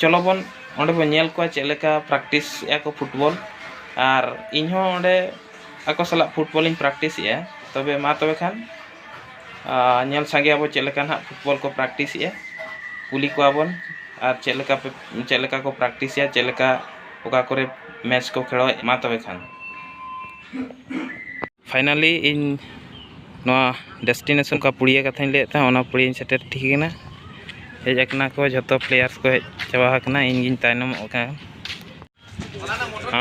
ᱪᱚᱞᱚ ᱵᱚᱱ ᱚᱸᱰᱮ ᱵᱚᱱ ᱧᱮᱞ ᱠᱚᱣᱟ ᱪᱮᱫ ᱞᱮᱠᱟ ᱯᱨᱮᱠᱴᱤᱥ ᱮᱫᱟ ᱠᱚ ᱯᱷᱩᱴᱵᱚᱞ ᱟᱨ ᱤᱧ ᱦᱚᱸ ᱚᱸᱰᱮ ᱟᱠᱚ ᱥᱟᱞᱟᱜ ᱯᱷᱩᱴᱵᱚᱞ ᱤᱧ ᱯᱨᱮᱠᱴᱤᱥ ᱮᱫᱟ ᱛᱚᱵᱮ ᱢᱟ ᱛᱚᱵᱮ ᱠᱷᱟᱱ ᱧᱮᱞ ᱥᱟᱸᱜᱮ ᱟᱵᱚᱱ ᱪᱮᱫ ᱞᱮᱠᱟ ᱦᱟᱸᱜ ᱯᱷᱩᱴᱵᱚᱞ ᱠᱚ ᱯᱨᱮᱠᱴᱤᱥ ᱮᱫᱟ ᱠᱩᱞᱤ ᱠᱚᱣᱟ ᱵᱚᱱ ᱟᱨ ᱪᱮᱫ ᱞᱮᱠᱟ ᱯᱮ ᱪᱮᱫ ᱞᱮᱠᱟ ᱠᱚ ᱯᱨᱮᱠᱴᱤᱥ ᱮᱫᱟ ᱪᱮᱫ ᱞᱮᱠᱟ ᱚᱠᱟ ᱠᱚᱨᱮᱜ ᱢᱮᱪ ᱠᱚ ᱠᱷᱮᱞᱚᱜ ᱢᱟ ᱛᱚᱵᱮ ᱠᱷᱟᱱ ᱯᱷᱟᱭᱱᱟᱞᱤ ᱤᱧ ᱱᱚᱣᱟ ᱰᱮᱥᱴᱤᱱᱮᱥᱚᱱ ᱚᱠᱟ ᱯᱩᱲᱤᱭᱟᱹ ᱠᱟᱛᱷᱟᱧ ᱞᱟᱹᱭᱮᱫ ᱛᱟᱦᱮᱸᱫ ᱚᱱᱟ ᱯᱩᱲᱤᱭᱟᱹᱧ ᱥᱮᱴᱮᱨ ᱴᱷᱤᱠ ᱠᱟᱱᱟ ᱦᱮᱡ ᱟᱠᱟᱱᱟ ᱠᱚ ᱡᱚᱛᱚ ᱯᱞᱮᱭᱟᱨᱥ ᱠᱚ ᱦᱮᱡ ᱪᱟᱵᱟ ᱟᱠᱟᱱᱟ ᱤᱧ ᱜᱤᱧ ᱛᱟᱭᱱᱚᱢᱚᱜ ᱠᱟᱱᱟ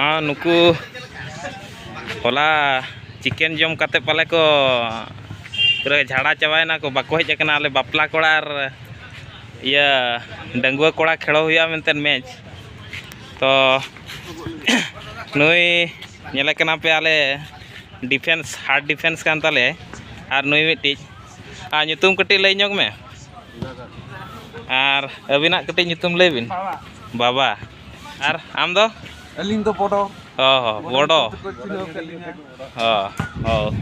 ᱟᱨ ᱱᱩᱠᱩ ᱦᱚᱞᱟ ᱪᱤᱠᱮᱱ ᱡᱚᱢ ᱠᱟᱛᱮᱫ ᱯᱟᱞᱮ ᱠᱚ ᱯᱩᱨᱟᱹ ᱡᱷᱟᱲᱟ ᱪᱟᱵᱟᱭᱮᱱᱟ ᱠᱚ ᱵᱟᱠᱚ ᱦᱮᱡ ᱟᱠᱟᱱᱟ ᱟᱞᱮ ᱵᱟᱯᱞᱟ ᱠᱚᱲᱟ ᱟᱨ ᱤᱭᱟᱹ ᱰᱟᱺᱜᱩᱣᱟᱹ ᱠᱚᱲᱟ ᱠᱷᱮᱞᱳ ᱦᱩᱭᱩᱜᱼᱟ ᱢᱮᱱᱛᱮ ᱢᱮᱪ ᱛᱚ ᱱᱩᱭ ᱧᱮᱞᱮ ᱠᱟᱱᱟ ᱯᱮ ᱟᱞᱮ ᱰᱤᱯᱷᱮᱱᱥ ᱦᱟᱨᱰ ᱰᱤᱯᱷᱮᱱᱥ ᱠᱟᱱ ᱛᱟᱞᱮ ᱟᱨ ᱱᱩᱭ ᱢᱤᱫᱴᱤᱡ ᱟᱨ ᱧᱩᱛᱩᱢ ᱠᱟᱹᱴᱤᱡ ᱞᱟᱹᱭ ᱧᱚᱜᱽ ᱢᱮ ᱟᱨ ᱟᱹᱵᱤᱱᱟᱜ ᱠᱟᱹᱴᱤᱡ ᱧᱩᱛᱩᱢ ᱞᱟᱹᱭ ᱵᱤᱱ ᱵᱟᱵᱟ ᱟᱨ ᱟᱢ ᱫᱚ ᱟᱹᱞᱤᱧ ᱫᱚ ᱵᱚᱰᱚ ᱚ ᱦᱚᱸ ᱵᱚᱰᱚ ᱠᱚ ᱪᱤᱱᱦᱟᱹᱣ ᱠᱮᱫ ᱞᱤᱧᱟ ᱚ ᱦᱚᱸ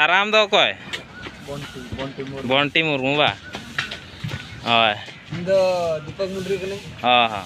ᱟᱨ ᱟᱢ ᱫᱚ ᱚᱠᱚᱭ ᱵᱚᱱᱴᱤ ᱢᱩᱨᱢᱩ ᱵᱟ ᱦᱳᱭ ᱤᱧ ᱫᱚ ᱫᱤᱯᱚᱠ ᱢᱩᱱᱰᱨᱤ ᱠᱟᱹᱱᱟᱹᱧ ᱦᱚᱸ ᱦᱚᱸ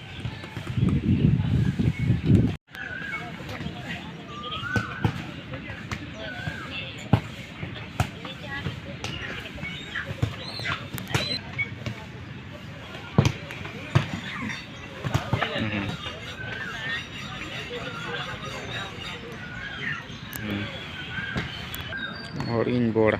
ᱦᱚᱲᱤᱧ ᱵᱚᱲ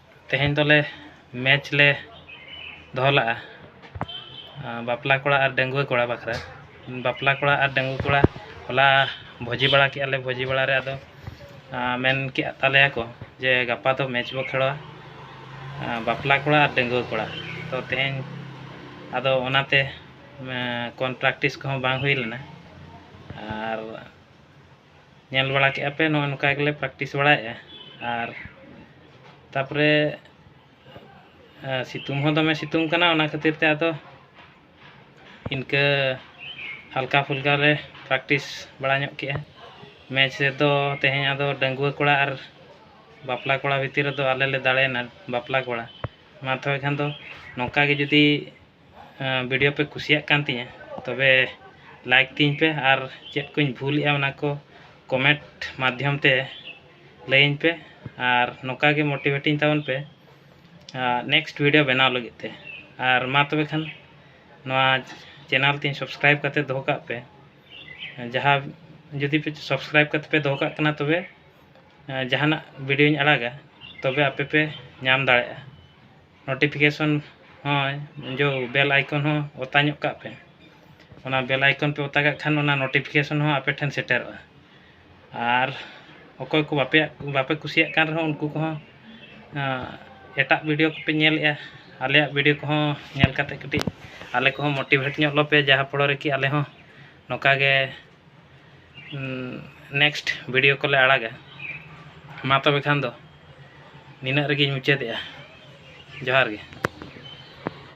ᱛᱮᱦᱮᱧ ᱫᱚᱞᱮ ᱢᱮᱪ ᱞᱮ ᱫᱚᱦᱚ ᱞᱟᱜᱼᱟ ᱵᱟᱯᱞᱟ ᱠᱚᱲᱟ ᱟᱨ ᱰᱟᱺᱜᱩᱣᱟᱹ ᱠᱚᱲᱟ ᱵᱟᱠᱷᱨᱟ ᱵᱟᱯᱞᱟ ᱠᱚᱲᱟ ᱟᱨ ᱰᱟᱺᱜᱩᱣᱟᱹ ᱠᱚᱲᱟ ᱦᱚᱞᱟ ᱵᱷᱚᱡᱤ ᱵᱟᱲᱟ ᱠᱮᱜᱼᱟ ᱞᱮ ᱵᱷᱚᱡᱤ ᱵᱟᱲᱟ ᱨᱮ ᱟᱫᱚ ᱢᱮᱱ ᱠᱮᱜ ᱛᱟᱞᱮᱭᱟ ᱠᱚ ᱡᱮ ᱜᱟᱯᱟ ᱫᱚ ᱢᱮᱪ ᱵᱚ ᱠᱷᱮᱞᱟ ᱵᱟᱯᱞᱟ ᱠᱚᱲᱟ ᱟᱨ ᱰᱟᱺᱜᱩᱣᱟᱹ ᱠᱚᱲᱟ ᱛᱚ ᱛᱮᱦᱮᱧ ᱟᱫᱚ ᱚᱱᱟᱛᱮ ᱠᱚᱱ ᱯᱨᱮᱠᱴᱤᱥ ᱠᱚᱦᱚᱸ ᱵᱟᱝ ᱦᱩᱭ ᱞᱮᱱᱟ ᱟᱨ ᱧᱮᱞ ᱵᱟᱲᱟ ᱠᱮᱜᱼᱟ ᱯᱮ ᱱᱚᱜᱼᱚᱭ ᱱᱚᱝᱠᱟ ᱜᱮᱞᱮ ᱯᱨᱮᱠᱴᱤᱥ ᱵᱟᱲᱟᱭᱮᱜᱼᱟ ᱟᱨ ᱛᱟᱨᱯᱚᱨᱮ ᱥᱤᱛᱩᱝ ᱦᱚᱸ ᱫᱚᱢᱮ ᱥᱤᱛᱩᱝ ᱠᱟᱱᱟ ᱚᱱᱟ ᱠᱷᱟᱹᱛᱤᱨ ᱛᱮ ᱟᱫᱚ ᱤᱱᱠᱟᱹ ᱦᱟᱞᱠᱟ ᱯᱷᱩᱞᱠᱟ ᱞᱮ ᱯᱨᱮᱠᱴᱤᱥ ᱵᱟᱲᱟ ᱧᱚᱜ ᱠᱮᱜᱼᱟ ᱢᱮᱪ ᱨᱮᱫᱚ ᱛᱮᱦᱮᱧ ᱟᱫᱚ ᱰᱟᱺᱜᱩᱣᱟᱹ ᱠᱚᱲᱟ ᱟᱨ ᱵᱟᱯᱞᱟ ᱠᱚᱲᱟ ᱵᱷᱤᱛᱤᱨ ᱨᱮᱫᱚ ᱟᱞᱮ ᱞᱮ ᱫᱟᱲᱮᱭᱮᱱᱟ ᱵᱟᱯᱞᱟ ᱠᱚᱲᱟ ᱢᱟ ᱛᱚᱵᱮ ᱠᱷᱟᱱ ᱫᱚ ᱱᱚᱝᱠᱟ ᱜᱮ ᱡᱩᱫᱤ ᱵᱷᱤᱰᱤᱭᱳ ᱯᱮ ᱠᱩᱥᱤᱭᱟᱜ ᱠᱟᱱ ᱛᱤᱧᱟᱹ ᱛᱚᱵᱮ ᱞᱟᱭᱤᱠ ᱛᱤᱧ ᱯᱮ ᱟᱨ ᱪᱮᱫ ᱠᱚᱧ ᱵᱷᱩᱞᱮᱜᱼᱟ ᱚᱱᱟ ᱠᱚ ᱠᱚᱢᱮᱱᱴ ᱢᱟᱫᱽᱫᱷᱚᱢ ᱛᱮ ᱞᱟᱹᱭᱟᱹᱧ ᱯᱮ ᱟᱨ ᱱᱚᱝᱠᱟ ᱜᱮ ᱢᱳᱴᱤᱵᱷᱮᱴᱤᱧ ᱛᱟᱵᱚᱱ ᱯᱮ ᱟᱨ ᱱᱮᱠᱥᱴ ᱵᱷᱤᱰᱤᱭᱳ ᱵᱮᱱᱟᱣ ᱞᱟᱹᱜᱤᱫ ᱛᱮ ᱟᱨ ᱢᱟ ᱛᱚᱵᱮ ᱠᱷᱟᱱ ᱱᱚᱣᱟ ᱪᱮᱱᱮᱞ ᱛᱤᱧ ᱥᱟᱵᱥᱠᱨᱟᱭᱤᱵᱽ ᱠᱟᱛᱮ ᱫᱚᱦᱚ ᱠᱟᱜ ᱯᱮ ᱡᱟᱦᱟᱸ ᱡᱩᱫᱤ ᱯᱮ ᱥᱟᱵᱥᱠᱨᱟᱭᱤᱵᱽ ᱠᱟᱛᱮ ᱯᱮ ᱫᱚᱦᱚ ᱠᱟᱜ ᱠᱟᱱᱟ ᱛᱚᱵᱮ ᱡᱟᱦᱟᱱᱟᱜ ᱵᱷᱤᱰᱤᱭᱳᱧ ᱟᱲᱟᱜᱟ ᱛᱚᱵᱮ ᱟᱯᱮ ᱯᱮ ᱧᱟᱢ ᱫᱟᱲᱮᱭᱟᱜᱼᱟ ᱱᱳᱴᱤᱯᱷᱤᱠᱮᱥᱚᱱ ᱦᱚᱸ ᱡᱳ ᱵᱮᱞ ᱟᱭᱠᱚᱱ ᱦᱚᱸ ᱚᱛᱟ ᱧᱚᱜ ᱠᱟᱜ ᱯᱮ ᱚᱱᱟ ᱵᱮᱞ ᱟᱭᱠᱚᱱ ᱯᱮ ᱚᱛᱟ ᱠᱟᱜ ᱠᱷᱟᱱ ᱚᱱᱟ ᱱᱳᱴᱤᱯᱷᱤᱠᱮᱥᱚᱱ ᱦᱚᱸ ᱟᱯᱮ ᱴᱷᱮᱱ ᱥᱮᱴᱮᱨᱚᱜᱼᱟ ᱟᱨ ᱚᱠᱚᱭ ᱠᱚ ᱵᱟᱯᱮ ᱵᱟᱯᱮ ᱠᱩᱥᱤᱭᱟᱜ ᱠᱟᱱ ᱨᱮᱦᱚᱸ ᱩᱱᱠᱩ ᱠᱚᱦᱚᱸ ᱮᱴᱟᱜ ᱵᱷᱤᱰᱤᱭᱳ ᱠᱚᱯᱮ ᱧᱮᱞᱮᱜᱼᱟ ᱟᱞᱮᱭᱟᱜ ᱵᱷᱤᱰᱤᱭᱳ ᱠᱚᱦᱚᱸ ᱧᱮᱞ ᱠᱟᱛᱮᱫ ᱠᱟᱹᱴᱤᱡ ᱟᱞᱮ ᱠᱚᱦᱚᱸ ᱢᱳᱴᱤᱵᱷᱮᱴ ᱧᱚᱜ ᱞᱮᱯᱮ ᱡᱟᱦᱟᱸ ᱯᱷᱚᱞᱚ ᱨᱮᱠᱤ ᱟᱞᱮ ᱦᱚᱸ ᱱᱚᱝᱠᱟ ᱜᱮ ᱱᱮᱠᱥᱴ ᱵᱷᱤᱰᱤᱭᱳ ᱠᱚᱞᱮ ᱟᱲᱟᱜᱟ ᱢᱟ ᱛᱚᱵᱮ ᱠᱷᱟᱱ ᱫᱚ ᱱᱤᱱᱟᱹᱜ ᱨᱮᱜᱮᱧ ᱢᱩᱪᱟᱹᱫᱮᱜᱼᱟ ᱡᱚᱦᱟᱨ ᱜᱮ